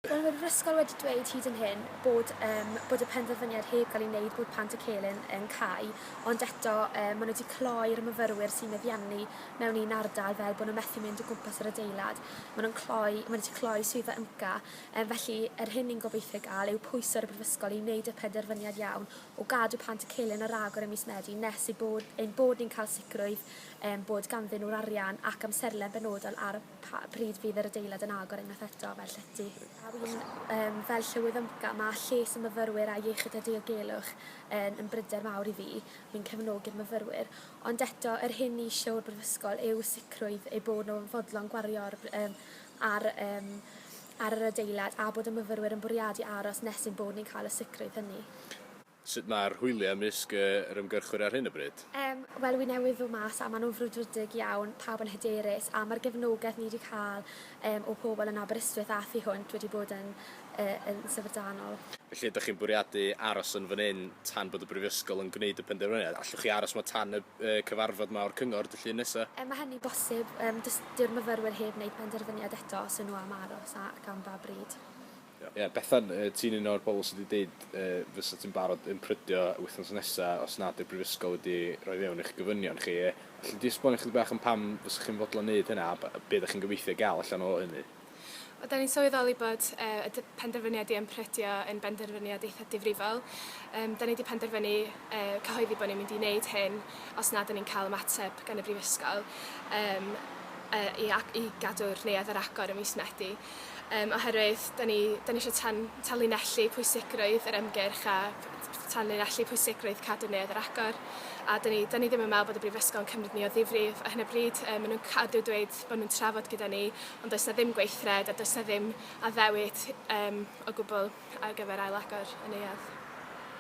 Wel, mae'r ysgol wedi dweud hyd yn hyn bod, um, bod y penderfyniad heb gael ei wneud bod plant y celyn yn cau, ond eto um, maen nhw wedi cloi'r myfyrwyr sy'n meddiannu mewn un ardal fel bod nhw'n methu mynd o gwmpas yr adeilad. Maen nhw'n cloi, maen nhw wedi cloi swyddfa ymca, um, felly yr hyn ni'n gobeithio gael yw pwys ar y brifysgol i wneud y penderfyniad iawn o gadw plant y celyn ar agor ym mis Medi nes eu bod, ein bod ni'n cael sicrwydd um, bod ganddyn nhw'r arian ac amserlen benodol ar Pa bryd fydd yr adeilad yn agor unwaith eto, fel llety? A yw'n um, fel llywydd ymca, mae lles y myfyrwyr a iechyd a diogelwch yn, yn bryder mawr i fi, fi'n cefnogi'r myfyrwyr, ond eto, yr hyn ni eisiau o'r Brifysgol yw sicrwydd eu bod nhw'n fodlon gwario ar, um, ar, um, ar yr adeilad a bod y myfyrwyr yn bwriadu aros nes ein bod ni'n cael y sicrwydd hynny. Sut mae'r hwyliau ymysg yr ymgyrchwyr ar hyn o bryd? Yym, wel, wy newydd ddod mas a maen nhw'n frwdfrydig iawn, pawb yn hyderus a mae'r gefnogaeth ni wedi cael yym o pobl yn Aberystwyth a thu hwnt wedi bod yn yy yn syfrdanol. Felly, ydych chi'n bwriadu aros yn fan hyn tan bod y Brifysgol yn gwneud y penderfyniad? Allwch chi aros yma tan y yy cyfarfod yma o'r Cyngor Dydd Llun nesa? Yy, mae hynny'n bosib, yym, does dyw'r myfyrwyr heb wneud penderfyniad eto os yw nhw am aros ac am ba bryd. Ie, Bethan, ti'n un o'r bobl sy 'di deud fysa ti'n barod yn prydio wythnos nesa os nad yw'r Brifysgol wedi rhoi fewn i'ch gofynion chi. Alli di esbonio chydig bach am pam fysa chi'n fodlon neud hynna a be da chi'n gobeithio gael allan o hynny? Wel, da ni'n sylweddoli bod y penderfyniad i ymprydio yn benderfyniad eitha difrifol. Da ni 'di penderfynu cyhoeddi bod ni'n mynd i neud hyn os nad da ni'n cael ymateb gan y Brifysgol i gadw'r neuadd ar agor ym mis Medi. Yym oherwydd 'da ni 'da ni isio tan- tanlinellu pwysigrwydd yr ymgyrch a tanlinellu pwysigrwydd cadw neuadd ar agor a 'da ni 'da ni ddim yn meddwl bod y brifysgol yn cymryd ni o ddifri f- ar hyn o bryd yy ma' nhw'n cadw dweud bod nhw'n trafod gyda ni ond does 'na ddim gweithred a does 'na ddim addewid yym o gwbl ar gyfer ail-agor y neuadd.